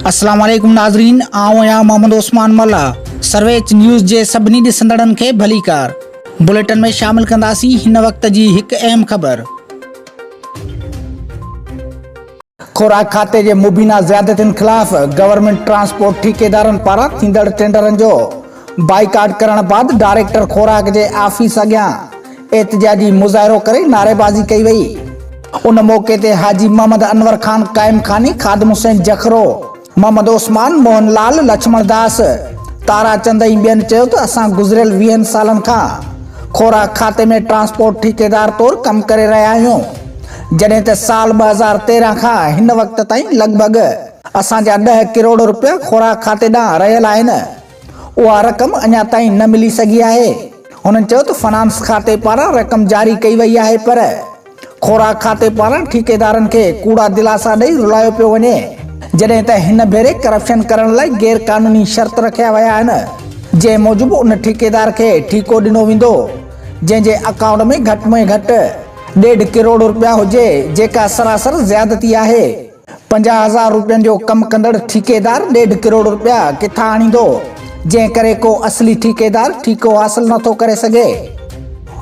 السلام عليڪم ناظرين آئون آهيان محمد عثمان ملا سرويچ نيوز جي سڀني ڏسندڙن کي ڀليڪار بليٽن ۾ شامل ڪنداسين هن وقت جي هڪ اهم خبر خوراڪ کاتي جي مبينا زيادتين خلاف گورنمينٽ ٽرانسپورٽ ٺيڪيدارن پاران ٿيندڙ ٽينڊرن جو بائيڪاٽ ڪرڻ بعد ڊائريڪٽر خوراڪ جي آفيس اڳيان احتجاجي مظاهرو ڪري نعريبازي ڪئي وئي. ان موقعي تي حاجي محمد انور خان قائم خاني، خادم حسين جکرو، محمد عثمان، موهن لال، لڇمڻ داس، تارا چند ۽ ٻين چيو ته اسان گذريل ويهن سالن کان خوراڪ کاتي ۾ ٽرانسپورٽ ٺيڪيدار طور ڪم ڪري رهيا آهيون جڏهن ته سال ٻه هزار تيرهن کان هن وقت تائين لڳ ڀڳ اسان جا ڏهه ڪروڙ رپيا خوراڪ کاتي ڏانهن رهيل آهن اها رقم اڃا تائين نه ملي سگهي آهي هنن چيو ته فنانس کاتي پاران رقم جاري ڪئي وئي آهي پر خوراڪ کاتي پاران ٺيڪيدارن کي ڪوڙا دلاسا ڏئي رلايو پيو وڃي، جڏهن ته هن ڀيري ڪرپشن ڪرڻ لاء غير قانوني شرط رکيا ويا آهن، جنهن موجب ان ٺيڪيدار کي ٺيڪو ڏنو ويندو، جنهن جي اڪائونٽ ۾ گهٽ ۾ گهٽ ڏيڍ ڪروڙ رپيا هجي، جيڪا سراسر زيادتي آهي. پنجاهه هزار روپين جو ڪم ڪندڙ ٺيڪيدار ڏيڍ ڪروڙ روپيا ڪٿان آڻيندو، جنهن ڪري ڪو اصلي ٺيڪيدار ٺيڪو حاصل نه ٿو ڪري سگهي.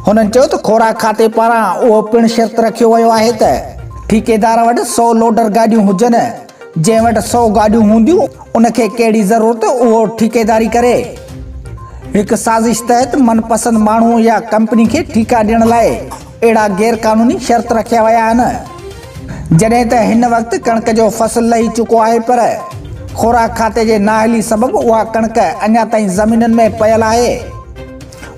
هنن چيو ته خوراڪ کاتي پاران اهو پڻ شرط رکيو ويو آهي ته ٺيڪيدار وٽ سؤ لوڊر گاڏيون هجن، جنهن وٽ سؤ گاڏيون هونديون ان کي ڪهڙي ضرورت اهو ٺيڪيداري ڪري. هڪ سازش تحت من پسند ماڻهو يا ڪمپني کي ٺيڪا ڏيڻ لاء اهڙا غير قانوني شرط رکيا ويا آهن جڏهن ته هن وقت ڪڻڪ جو فصل لهي چڪو آهي پر خوراڪ کاتي جي نااهلي سبب اها ڪڻڪ اڃا تائين زمينن ۾ پيل آهي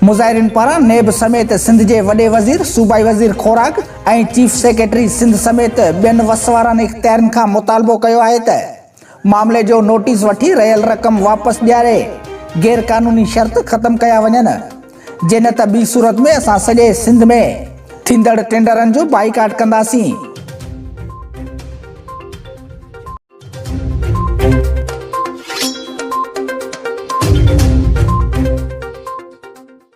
مظاهرين پاران نيب سميت سنڌ جي وڏي وزير صوبائي وزير خوراڪ ۽ چيف سيڪريٽري سنڌ سميت ٻين وس وارن اختيارين کان مطالبو ڪيو آهي ته معاملي جو نوٽيس وٺي رهيل رقم واپس ڏياري غير قانوني شرط ختم ڪيا وڃن جي نه ته ٻي صورت ۾ اسان سڄي سنڌ ۾ ٿيندڙ ٽينڊرن جو بائيڪاٽ ڪنداسين.